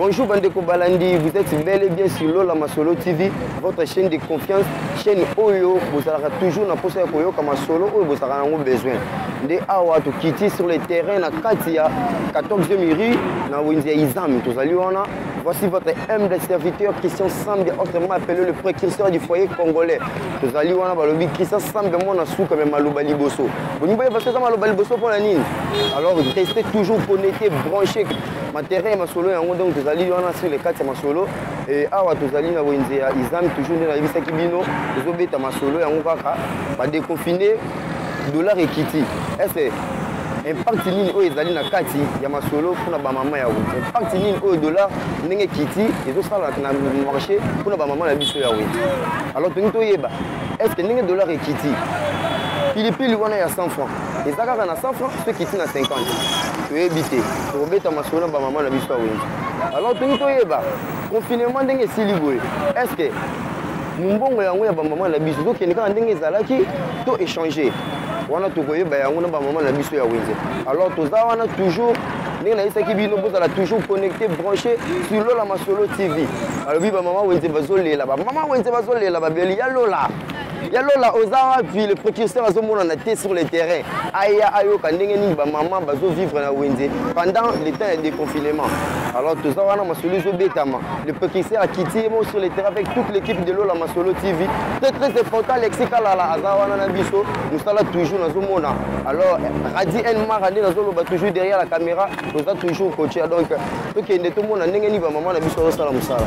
Bonjour Bandeko Balandi, vous êtes bel et bien sur Lola Masolo TV, votre chaîne de confiance, chaîne Oyo, vous allez toujours na posa koyo kama solo Oyo vous allez avoir besoin. De awa to kiti sur le terrain na Katia 14e rue na Wendia Izami, tous allez wana. Voici votre humble serviteur Christian Sambe, autrement appelé le précurseur du foyer congolais. Tous allez wana balobi Christian Sambe mon asuka mais maluba liboso. Vous ne pouvez pas faire maluba liboso pour la nini. Alors restez toujours connectés, branchés ma terrain ya masolo yango donc tozali wana sur le kati ya masolo e awa tozali na wenze ya islam toujours nde nayebisaki bino tozobeta masolo yango kaka badeconfine dollar ekiti ese impact nini oyo ezali na kati ya masolo mpona bamama ya wenge impact nini oyo dollar ndenge ekiti ezosala na marché mpona bamama na biso ya wenge alors tolingi toyeba estce ndenge dollar ekiti pilipili wana ya 100 franc eza kaka na 100 franc soki ekiti na 50 toyebi te tokobeta masolo na bamama na biso ya wenze alors toki toyeba confinement ndenge esili boye est ce que mombongo yango ya bamama na biso tokende kaka ndenge ezalaki to échange wana tokoyeba yango na bamama na biso ya wenze alors toza wana toujours ndenge nayebisaki bino bozala toujours connecté branché sur lola masolo tv balobi bamama wenze bazolela bamama wenze bazolela babeli ya lola ya lola oza wapi le précurseur azomonana te sur le terrain aya ayoka ndenge nini bamama bazovivre na wenze pendant le temps ya déconfinement alors toza wana masolo ezobetama le précurseur akiti ye mo sur le terrain avec toute l'équipe de lola masolo tv très très important alexi kalala aza wana na biso mosala toujours nazomona alors radi nmara nde nazoloba toujours derrière la caméra toza toujours coache donc tokende tomona ndenge nini bamama na biso azosala mosala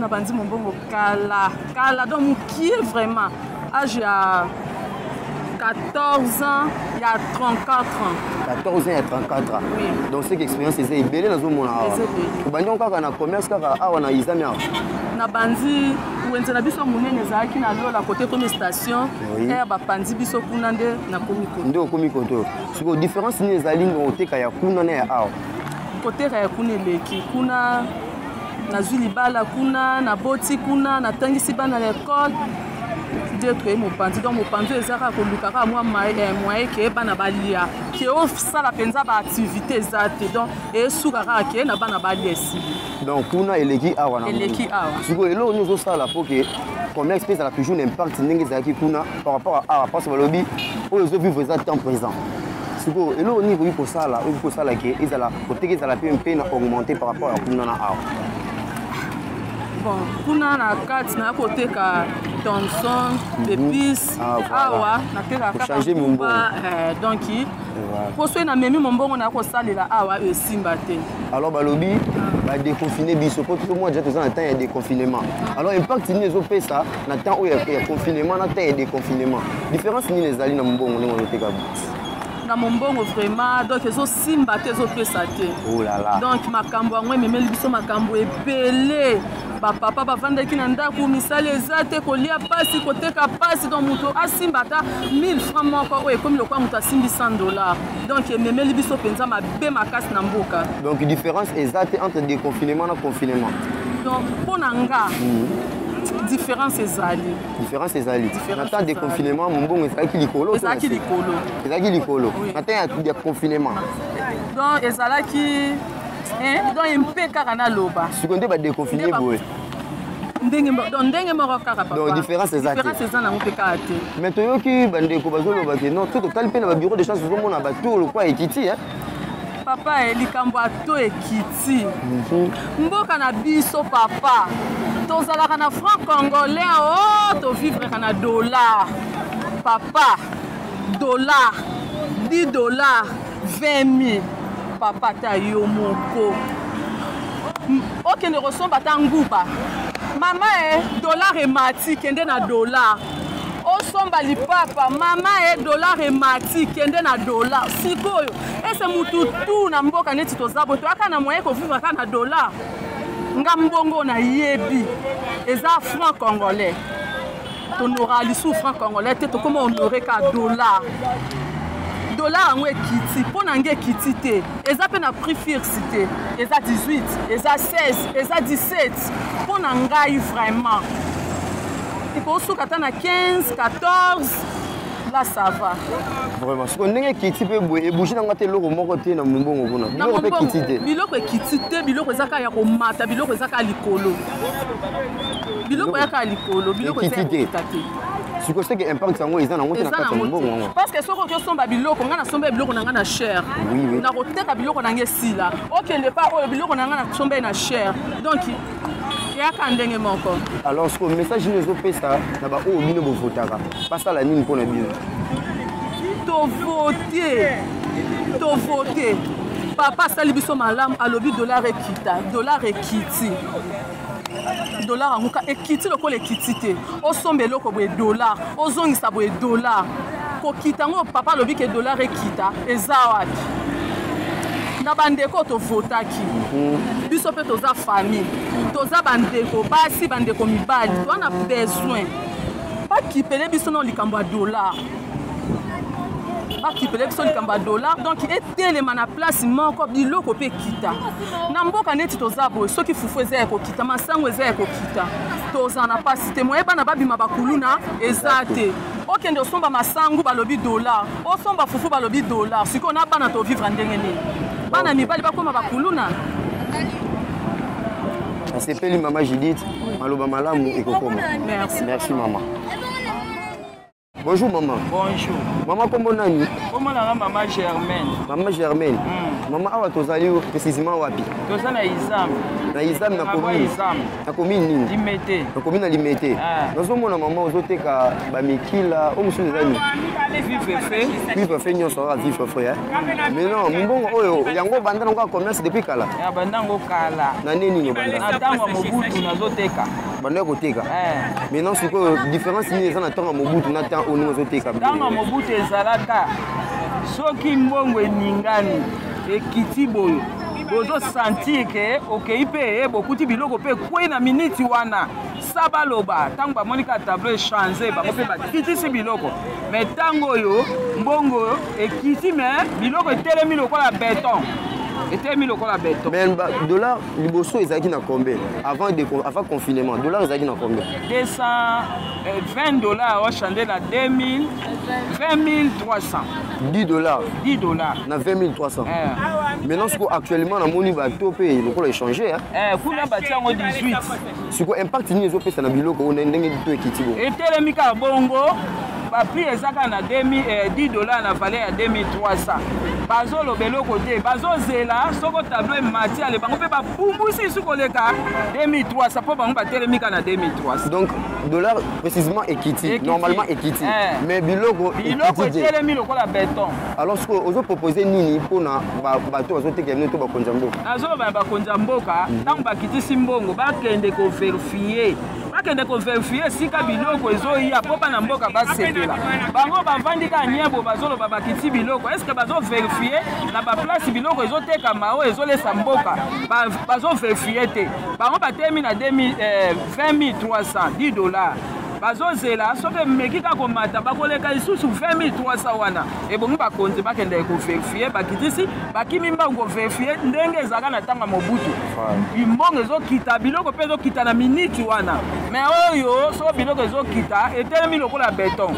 na banzi mombongo kala kala donc mokie vraiment age ya 14 ans ya 34 ans 14 ans ya 34 ans oui. donc seke expérience eza ebele nazomona awa obandi yango kaka na commerce kaka awa na izami awa na banzi wenze na biso monene ezalaki na lola kote ekomi station aire bapanzi biso kuna nde nakomi koto nde okomi koto sikoyo différence nini ezali na oteka ya kuna na ya awa koteka ya kuna eleki kuna nazwi libala kuna naboti kuna natangisi bana na ekole nde toye mopanzi donc mopanzi oyo eza kaka koluka kaka mwa moye eh, ke bana balia ke osala mpenza baaktivité eza te donc esuka kaka ke na bana balia esili donc kuna eleki awa na eleki awa sikoyo eloko nini ozosala mpo ke combien espèce ezalaka toujours na impact ndenge ezalaki kuna par rapport à awa parce balobi oyo ezovivre eza temps présent sikoyo eloko nini ekoki kosala oyo kosala ke ezala koteka ezala mpe mpe na augmente par rapport ya kuna na awa bon kuna na kati naya koteka thomson épice mhm. ah, awa natekakachange mombongo eh, donc mpo soki namemi mombongo naya kosalela awa esimba te alors balobi ah. badeconfine biso mpo tout mois deja toza na temps ya déconfinement alors impact nini ezopesa na temps oyo ya confinement na temps ya déconfinement différence nini ezali na mombongo ndenge ozoteka na mombongo vraiment donc ezosimba te ezopesa te oh donc makambo yango ememeli biso makambo ebele bapapa bavandaki na ndako misala eza te kolia mpasi koteka mpasi donc moto asimba ata 1000 franc moko oyo ekomi lokola moto asimbi 100 dollar donc ememeli biso mpenza mabe makasi na mboka donc différence eza te entre déconfinement na confinement donc mpo na nga mm. différence ezali différence ezali na temps de confinement mombongo ezalaki likolo ezalaki likolo ezalaki likolo na temps ya confinement donc ezalaki donc ye mpe kaka naloba siko nde badeconfine boye ndenge donc ndenge moko kaka papa donc différence eza te différence eza nango mpe kaka te mais toyoki bandeko bazoloba ke non to totali mpe na babiro de chance tozomona batour lokwa ekiti eh papa eh, likambo ato ekiti mhm. mboka na biso papa tozalaka na franc congolais o oh, tovivreka na dollar papa dollar 10 dollar 20 mille papa ta yo moko okende kosomba ata nguba mama e eh, dollar emati kende na dollar osomba lipapa mama e eh, dollar emati kende na dollar sikoyo ese mutu tu na mboka neti toza bo toyaka na moyen kovivre kaka na dollar nga mbongo nayebi eza franc congolais tonoraka lisusu franc congolais te tokoma honore ka dollar dollar yango ekiti mpo na nge ekiti te eza mpe na prix fixe te eza 18 eza 16 eza 17 mpo na ngai vraiment ekosuka ata na 15 14 la sava vraiment siko ndenge ekiti mpe boye ebouge na nga te eloko moko te na mombongo kuna biloko mpe ekiti te biloko ekiti te biloko eza kaka ya komata biloko eza kaka likolo biloko ya kaka likolo biloko eza ya kokita te siko seke impact yango eza nango te na kati ya mbongo yango parce que soki oki osomba biloko ngai nasomba biloko na ngai na cher nakoteka biloko na ngai esila okende pa oyo biloko na ngai nasomba ye na cher donc yaka ndenge moko alors siko message nini ezopesa na baoyo bino bovotaka basala nini mpo na bino tovote tovote papa asali biso malamu alobi dollar ekita dollar ekiti dollar yango ka ekiti lokola ekiti te osomba eloko boye dollar ozongisa boye dollar kokita yango papa alobi ke dollar ekita eza wapi na bandeko tovotaki mhm. biso mpe toza famille toza bandeko basi bandeko mibali toza na besoin bakipele biso na likambo ya dollar bakipele biso likambo ya dollar donc etelema na place moko biloko mpe ekita na mboka neti toza boye soki fufu eza ya kokita masango eza ya kokita tozala na mpasi te moye bana babima bakuluna eza te okende osomba masangu balobi dollar osomba fufu balobi dollar sikoyo na bana tovivre ndenge nini bana mibali bakoma bakuluna nasepeli mama judith maloba malamu ekokoma merci mama bonjour mama bonjour mama nkombo nani nkombo nanga mama germaine mama germaine mm. mama awa tozali précisément wapi toza na izame na izame na commune nakomi nini limete nakomi na limete ah. nazomona mama ozoteka bamikila oyo mosusu eza nini vivre fe nyonso oyo vivre fe eh? mais non mbongo oyo yango obanda nango ya commerce depuis kala abanda yango kala na nde nini obanda na ntango ya mobutu nazoteka banda ya koteka eh. mais non sikoyo différence nini eza na ntango ya mobutu na ntango oyo ndenge ozoteka ntango ya mobutu ezalaka soki mbongo eningani ekiti boyo bozo sentir ke okei mpe eh, bokuti biloko mpe ekwei na miniti wana sa baloba ntango bamoni kaka tableau echange bango mpe bakitisi biloko me ntango oyo mbongo ekiti me biloko etelemi lokola beton etelemi lokola beton mais dollar liboso ezalaki na combien avant, de, avant confinement dollar ezalaki na combien 220 euh, dollars ochange na 2000 20300 10 dollars 10 dollars na 20300 eh. maintenant siko actuellement namoni bato mpe lokola echange eh, kuna batia yango 18 siko impact nini ezopesa na biloko oyo ndenge to ekiti bo etelemi kaka bongo baprix eza kaka na 10 eh, dollars na valeur ya 2300 bazoloba eloko te bazozela soko tablo emati ale bango mpe bapumbusi isu koleka 2300 mpo bango batelemi kaka na 2300 donc dollar précisément ekiti normalement ekiti eh. mais biloko biloko etelemi lokola beton alors ce ozo proposer nini mpona bato bazotekela bino to bakonzi ya mboka nazoloba ya bakonzi ya mboka ntango mhm. bakitisi mbongo bakende koverifie bakende koverifie esika biloko ezoya mpo bana mboka basepela bango bavandi kaka nyebo bazoloba bakiti biloko estce bazoverifie na baplace biloko ezotekama oyo ezolesa mboka bazoverifie te bango batemi na 2000 20300 10 dollars bazozela soki emeki kaka komata bakoleka lisusu 20300 wana ebongi bakonzi bakendeke koverifie bakitisi bakimi mbangu koverifie ndenge ezalaka na ntango ya mobutu bimbongo ezokita biloko mpe ezokita na miniti wana me oyo soki biloko ezokita etelemi lokola beton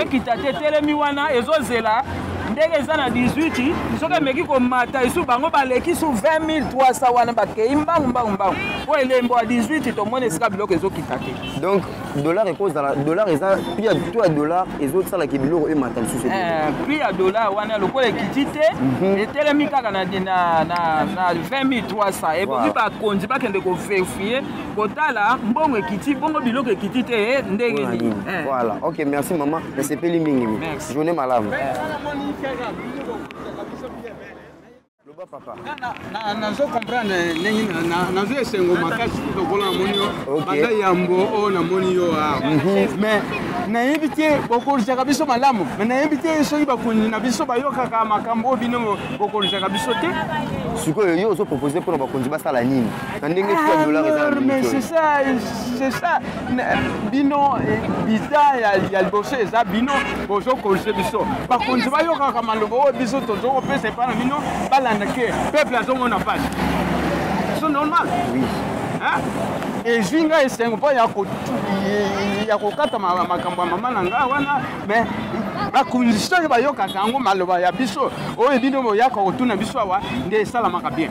ekita te etelemi wana ezozela ndenge eza na 18 soki emeki komata esu bango baleki su 20300 wana bakei mbangu mbangu mbangu po elembo ya 18 tomoni esika biloko ezokita te donc dollar ekozala dollar eza prix ya to ya dollar ezosalaki biloko emata lisusu eh, prix ya dollar wana lokola ekiti te mhm. etelemi kaka na 20300 eboki bakonzi bakende koverifie kotala mbongo ekiti bongo biloko ekiti te eh, ndenge nini eh. voilà ok merci mama nasepeli mingi journée malamu loba papa nazo comprendre ndenge nazo esengo makasi lokola namoni yo banda yambo oyo namoni yo awa mhm. mais nayebi te bokolisaka biso malamu mais nayebi te soki bakonzi na biso bayokaka makambo oyo bino bokolisaka biso te sikoyo yo ozopropose mpona bakonzi basala nini na ndenge tu ya dollar eza na mais c'est ça c'est ça bino biza ya liboso eza bino bozo corrige biso bakonzi bayokaka maloba oyo biso tozo kopesa epai na bino balanda ke peuple azomona pasi so normal oui. hein? ezwi ngai esengo mpo ya kokata makambo ya mama na ngai wana me bakonzi soki bayokaka yango maloba ya biso oyo bino boyaka kotuna biso awa nde esalamaka bien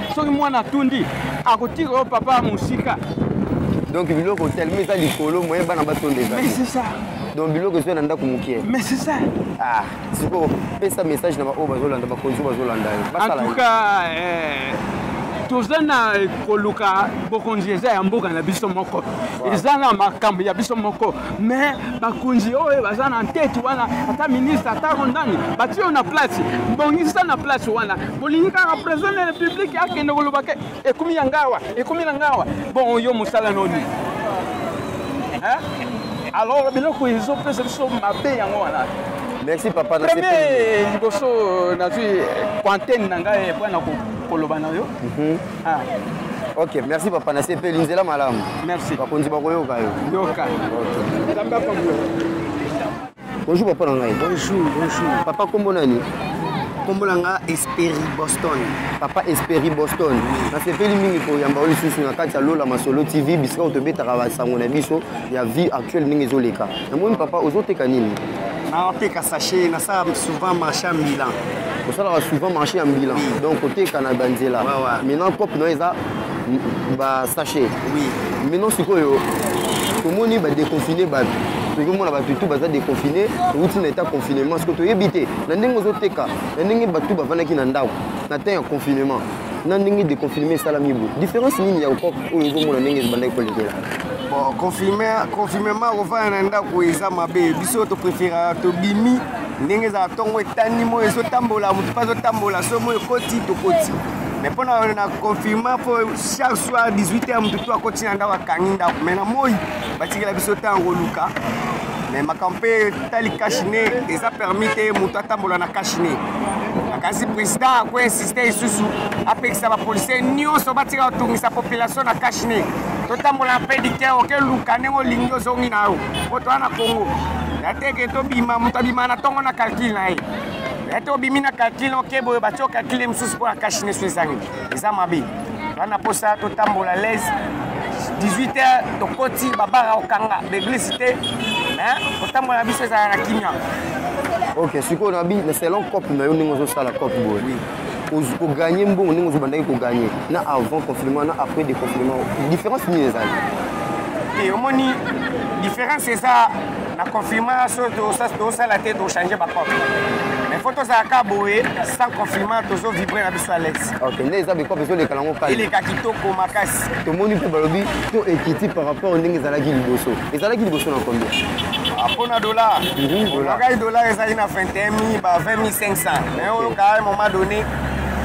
soki mwana atundi akotika yo papa ya mosika donc biloko telema eza likolo moye bana batonda eza donc biloko ezwi na ndako mokie ah, sikoyo pesa message na baoyo bazolanda bakonzi bazolanda yo basala eh, toza na koluka bokonzi eza ya mboka na biso moko eza na makambo ya biso moko mais bakonzi oyo baza na nteti wana ata ministre atako ndani batiyo na place bongisa na place wana bolingi kaka president de la république akende koloba ke ekomi ya ngawa ekomi na ngawa bon yo mosala noni alors biloko ezopesa biso mabe yango wana merci papa premier liboso nazwi quantene na ngai mpo na koloba na yo mhm. ah. ok merci papa nasepeli nzela malamu merci bakonzi bakoyoka yo yoka okay. bonjour papa na ngai bonjour bonjour papa kombo nani kombo na nga esperi boston papa esperi boston nasepeli mingi koyamba yo lisusu na kati ya lola masolo tv bisika oyo tobetaka basango na biso ya vie actuelle ndenge ezoleka namoni papa ozoteka nini naoteka sache nasala souvent marché ya milan osalaka souvent marché ya milan donc oteka na banzela maintenant cope na yo eza basachet maintenant sikoyo tomoni badeconfine bato tozomona bato tu baza deconfine outi na etat confinement sikoyo toyebi te na ndenge ozoteka na ndenge bato bafandaki na ndako na temps ya confinement na ndenge deconfinement esalami bo différence nini ya okop oyo ozomona ndenge ezobandaki kolekela confinement kofanda na ndako eza mabe biso topreferaka tobimi ndenge ezala ntongo etani moi ezotambola motu mpe azotambola so moi ekoti tokoti me mpo na na confirma mpo chaque soir 18 heure motu to akoti na ndako akangi ndako me na moi batikela biso ntango koluka me makambo mpe etali kashine eza permis te moto atambola na kashine kasi président akoinsiste lisusu apekisa bapolisier nyonso batika kotungisa population na kashine totambola mpe dike oke luka ndenge olingi ozongi na yo mpo toa na congo nateke tobima moto abima na ntongo na calcule na ye ete obimi na kalkile oke boye batye okalkile mosusu mpo na kashine so ezangi eza mabe wana mposa totambola lese 18 heures tokoti babara okanga beglise te kotambola na biso ezala na kimia ok sikoyo na selon cope na yo ndenge ozosala cope boye oganye mbongo ndenge ozobandaki koganye na avant confinement na après de confinement différence nini ezali te omoni différence eza na confinement so tosala te tochange bacope mais fo tozala ka boye sans confinement tozo vibre na biso alaise ok nde eza bikope ezoleka nango kali eleka kitoko makasi tomoni mpe balobi to ekiti par rapport ndenge ezalaki liboso ezalaki liboso na combien mpo na dollar mhm, dollar ezali na 21 000 ba 20 500 Mais au cas à un moment donné,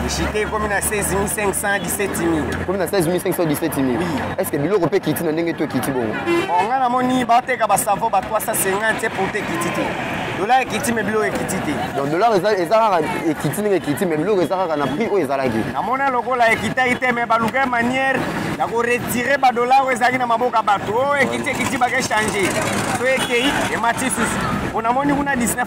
j'étais comme à 16 500, 17 000. Comme à 16 500, 17 000 Oui. Est-ce que Bilo peut quitter dans le Kiti Bon On a moni, batte, kabasavo, bat 350 pour te quitter. Dollar ekiti mais bilo ekiti te. Donc dollar ezalaka ekiti ndenge ekiti mais bilo ezalaka na prix oyo ezalaki. Namona lokola ekitaki te mais baluka manière ya koretire badollar oyo ezalaki na maboko ya bato oyo ekiti ekiti bake change so ekei emati susu mpo namoni kuna 19 000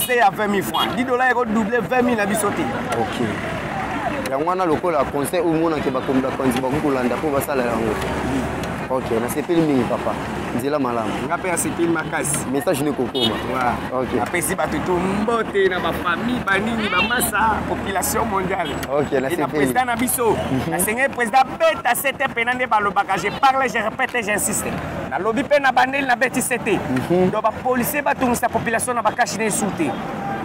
se ya 20 000 francs 10 dollars eko double 20 000 na biso te ok yango wana lokola conseil omonake bakomi bakonzi bakoki kolanda mpo basala yango ok nasepeli mingi papa nzela malamu nga mpe asepeli makasi message nde kokoma ok apesi bato to mbote na bafamille banini bamasa population mondiale ok nasepeli président na biso mhm. nasengeli président beta sete pena nde balobaka je parle je répète j'insiste nalobi mpe na bandeli na beti se te mhm. donc bapolisier batungisa population na bakashi na esu te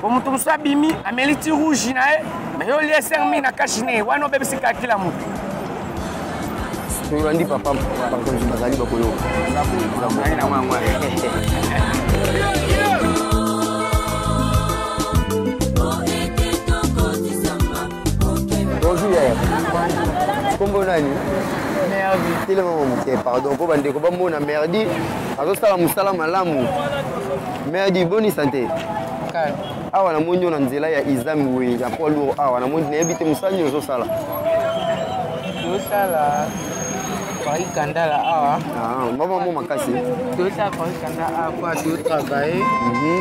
po moto mosusu abimi ameli ti rouge na ye me yo olie ser mingi na kashi na ye wana obebisi kakila motu tolandi papa bakonzi bazali bakoyoka Bonjour yaya. Kombo nani? Merdi. Telema moke pardon mpo bandeko bamona Merdi azosala mosala malamu. Merdi boni sante? Awa namoni yo na nzela ya Izami boye ya poids lourd awa namoni nayebi te mosala nini ozosala. Ozosala Paris Kandala awa. Ah, mama mo makasi. Ozosala Paris Kandala awa po azo travailler. Mhm.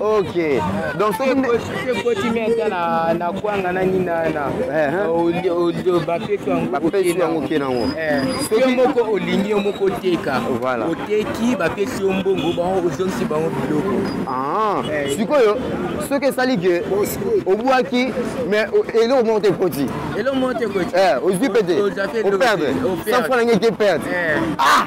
ok donc sokikotimi ata na kwanga na nini nabapesi yango oke nango soki moko olingi yo moko oteka oteki bapesi yo mbongo bango ozongisi bango biloko ah, eh. sikoyo soki esali ke obwaki mais eloko moko te ekoti eloko moko te ekoti eh, ozwi mpe te operde sans fo na ngai te perde eh. ah!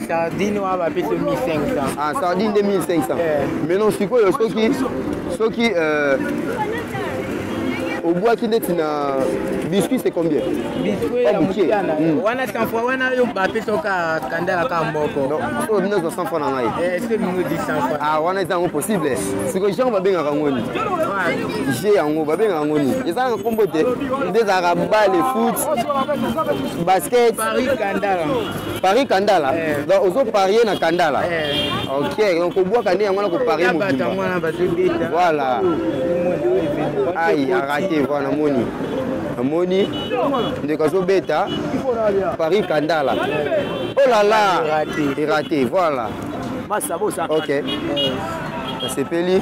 sardine wana bapesi 1500 ah, sardine 2500 eh. mais non sikoyo soki soki euh, obwaki ndeti na biscuit c'est combien biscuit ya mokiana hmm. wana 100 fois wana yo bapesoka kandala ka mboko so bino ezwa 100 fois na ngai eh, soki bino di 100 fois ah wana eza yango possible siko je yango babengaka yango nini je yango babengaka yango nini eza na nkombo te nde ezalaka bale foot basket paris kandala Paris Kandala eh. Donc ozo parier na Kandala eh. Ok, donc obwaka nde yango na koparie mobimba Voilà Aïe, a raté, voilà, namoni namoni ndeko azobeta Paris Kandala Oh là là Raté, raté, voilà Ok, nasepeli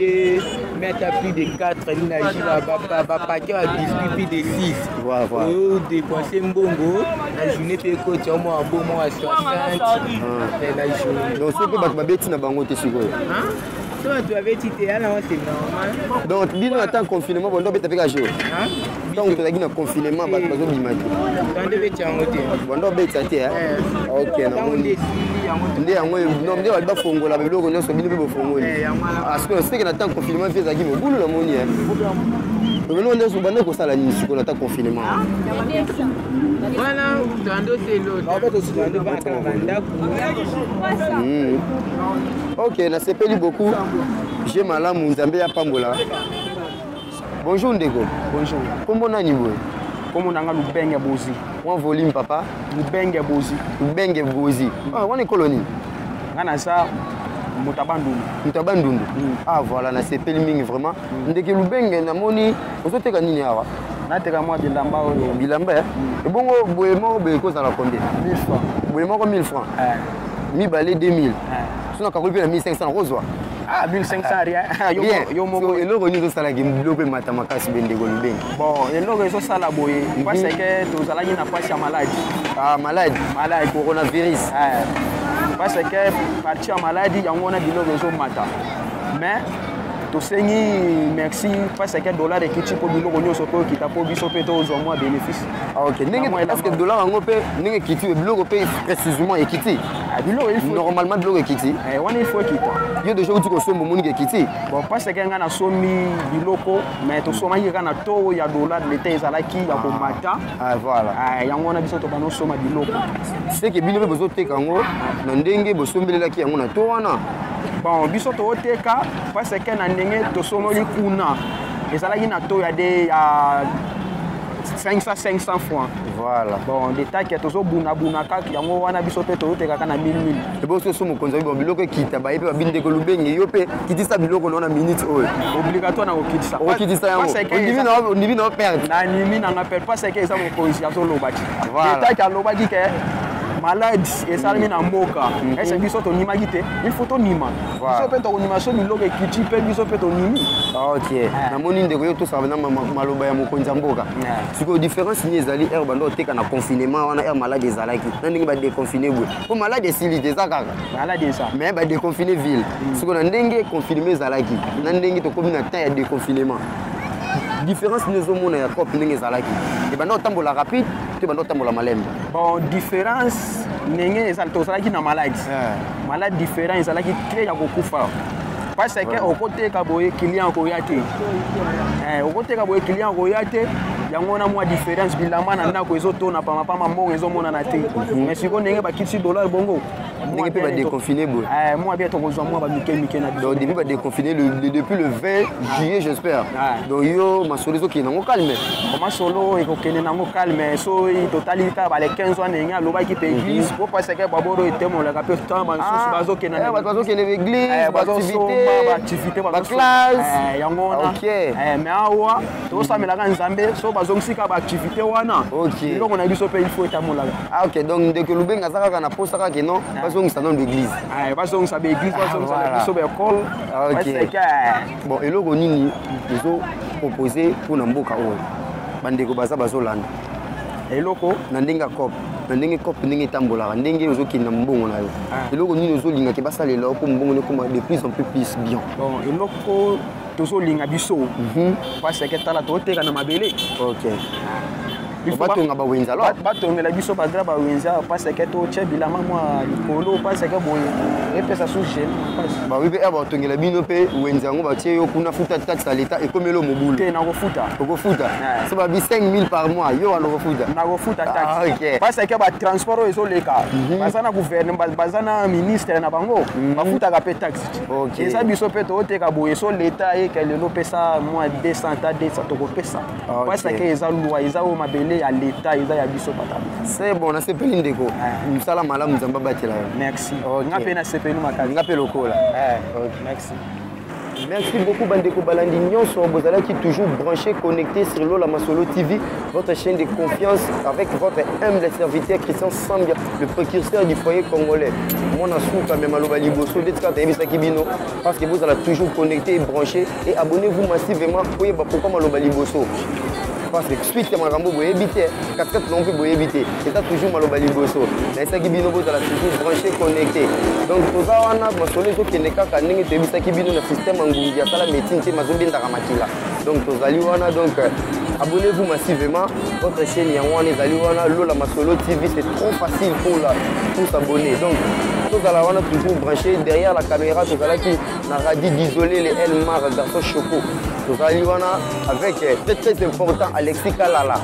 Et mettre à plus de 4 bapake ya biscuit plus de 6 oyo dépense mbongo na journée mpe ekoti yango mwa bo mwa 60 na journée donc soki mpe bato babeti na bango te sikoyo so bato babeti te yana wa c'est normal donc bino ata confinement bondo beta mpe ka jour ntango tozalaki na confinement bato eh. bazobima te banda obeti yango te banda obetisa te eh? Eh. ok nde yango nde bali bafongola biloko nyonso bino mpe bofongoli parceke seke na ntango confinement mpe ezalaki mobulu na moni obino nde banda kosala nini sikoyo na ntango confinement ah, wana tando telobandako hmm. ok nasepeli beaucoup je malamu nzambe yapambola Bonjour ndeko. Bonjour. Kombo nani boye? Kombo nanga Lubenge Bozi. Mwa volume papa. Lubenge Bozi. Lubenge Bozi. Mm. Ah, wana ekolo nini? Nga naza moto abandundu. Moto abandundu. Mm. Ah voilà, nasepeli mingi vraiment. Mm. Ndeke Lubenge namoni ozoteka nini awa? nateka mwa bilamba oyo bilamba eh? mm. ebongo boye moko boye ekozala combien 1000 francs boye moko 1000 francs eh. mibale 2000 soki nakakoli mpe na 1500 nakozwa ah 1500 rien ah, yo yo moko eloko nini ezosala ki mbilo mpe mata makasi be ndeko lubenge bon eloko ezosala boye mhm. parce que tozalaki na pasi ya maladi ah maladi maladi coronavirus eh. parce que parti ya maladi yango wana biloko ezomata mais tosengi merci parce que dollar ekiti mpo biloko nyonso mpe okita mpo biso mpe tozwa mwa bénéfice Ah, ok ndenge est-ce que dollar yango mpe ndenge ekiti oyo biloko mpe précisément ekiti ah, biloko normalement biloko ekiti eh, wana il faut ekita yo déjà outi kosomba omoniki ekiti bon mpasi eke ngai nasombi biloko mais tosomaki kaka na too ya dollar de l'état ezalaki ya ah. komata voilà eh, yango wana biso tobanda osomba biloko seke bino mpe bozoteka yango na ndenge bosombelelaki yango na to wana bon biso tooteka mpasi eke na ndenge tosomoli kuna ezalaki na to ya de ya 500 500 francs voilà bon de takia tozobunabuna kaka yango wana biso mpe toyotekaka na 1000 ebosi oso mokonzi abibo biloko ekita baye mpe babi ndeko lubenge yo mpe kitisa biloko nao na minute oyo obligatoire na kokitisa okokitisa yango ondimi nao perte nanimi nanga perte mpo seke eza mokonzi azoloba ti de takia alobaki ke maladi esalami na mboka ese biso tonimaki te il faut tonima biso mpe tokondima so biloko ekiti mpe biso mpe tondimi ok ah. namoni ndeko yo tosaka na maloba ya mokonzi ya mboka ah. sikoyo différence nini ezali heure banda oteka na confinement wana heure malade ezalaki na ndenge badeconfine boye mpo malade esili te eza kaka mais badeconfine ville mm. sikoyo na ndenge confinement ezalaki na ndenge tokomi na temps ya deconfinement différence nini ezomona ya cope ndenge ezalaki ebanda otambola rapide to ebanda otambola malembe bon différence ndenge tozalaki na maladi eh. malade différent ezalaki très ya kokufa parce que okoteka boye client akoya te eh, okoteka boye client akoya te yango wana mwa différence bilamba na ndako ezotona pamapama mbongo ezomonana te mhm. mais sikoyo ndenge bakitisi dollar bongo ndenge mpe badeconfine boye eh, mwa bia tokozwa mwa bamike mike na biso depuis badeconfine depuis le 20 ah. juillet j'espère ah. donc yo masolo ezokende nango calme masolo ekokende nango calme so totali kaka bale 15 wana ndenge alobaki mpe église po paseke baboro etemolaka mpe temps basusu bazokende bato bazokende baeglise baactivité baclasse yango wana mais awa tosamelaka nzambe so bazongisi kaka baactivité wana eloko na biso mpe il faut etamolaka ah, ok donc ndeko lubenga aza kaka na posa kaka non bazongisa nano baeglise bazongisa baeglise bazongisa na biso baekole Ah, ok bon eloko nini ezo propose mpo na mboka oyo bandeko baza bazolanda eloko na ndenge ya cop na ndenge cop ndenge etambolaka ndenge ozokende na mbongo na yo ah. eloko nini ozolingaki basalela yo mpo mbongo nekoma de plus en plus plus bien bon eloko tozolinga biso mhm. paseke tala toteka na mabele ok batonga bawenza lo batongela biso bagra bawenza paseke totya bilama mwa likolo paseke boye epesa su gene bawi mpe batongela bino mpe wenza yango batie yo kuna futa taxe ya leta ekomeli mobulu te nakofuta okofuta so babi 5000 par mois yo wana okofuta nakofuta taxe paseke batransport oyo ezoleka baza na gouvernema baza na ministre na bango bafutaka mpe taxe eza biso mpe tooteka boye so leta ayeke lelo pesa mwa 200 ta 200 tokopesa Ah, okay. pasake eza lwa eza oyo mabele ya leta eza ya biso pata se bon nasepeli ndeko ah. mosala malamu nzambe abatela yo merci okay. nga mpe nasepeli makasi nga mpe lokola eh. okay. merci Merci beaucoup Bandeko Balandi Nyonso, qui toujours branché, connecté sur Lola Masolo TV, votre chaîne de confiance avec votre humble serviteur Christian Sambia, le précurseur du foyer congolais. Mon asou quand même à l'Obali Bosso, d'être quand même Sakibino, parce que vous allez toujours connecté et branché et abonnez-vous massivement oyeba pourquoi maloba liboso parce que suite ya makambo boyebi te katikati nango mpe boyebi te eza toujours maloba liboso nayesaki bino bozala toujours branché connecté donc toza wana masolo ezokende kaka ndenge toyebisaki bino na système ya ngungi asala médecine te mazobendaka makila donc tozali wana donc abonnez-vous massivement votre chaîne yango wana ezali wana lola masolo tv c'est trop facile pour la tous abonner donc tozala wana toujours branché derrière la caméra tozalaki na radi disole le el mar garçon choco tozali wana avec eh, très très important alexis kalala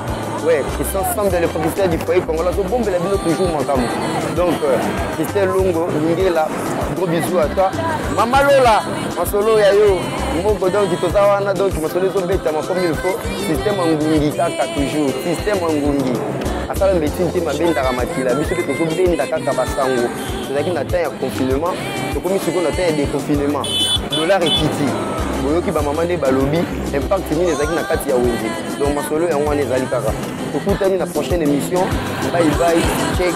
ouais christian sam de le professeur du foyer congolais tobombela bino toujours makambo donc euh, christian longo lingela gros bisou à toi mama lola masolo ya yo moko donc toza wana donc masolo ezobetama comme il faut système angungi kaka toujours système angungi asala mbetini te mabendaka makila biso mpe tozobenda kaka basango tozalaki na temps ya confinement tokomi sikoyo na temps ya déconfinement dollar ekiti boyoki bamama nde balobi impact nini ezalaki na kati ya wenze donc masolo yango wana ezali kaka tokutani na prochaine émission bye bye check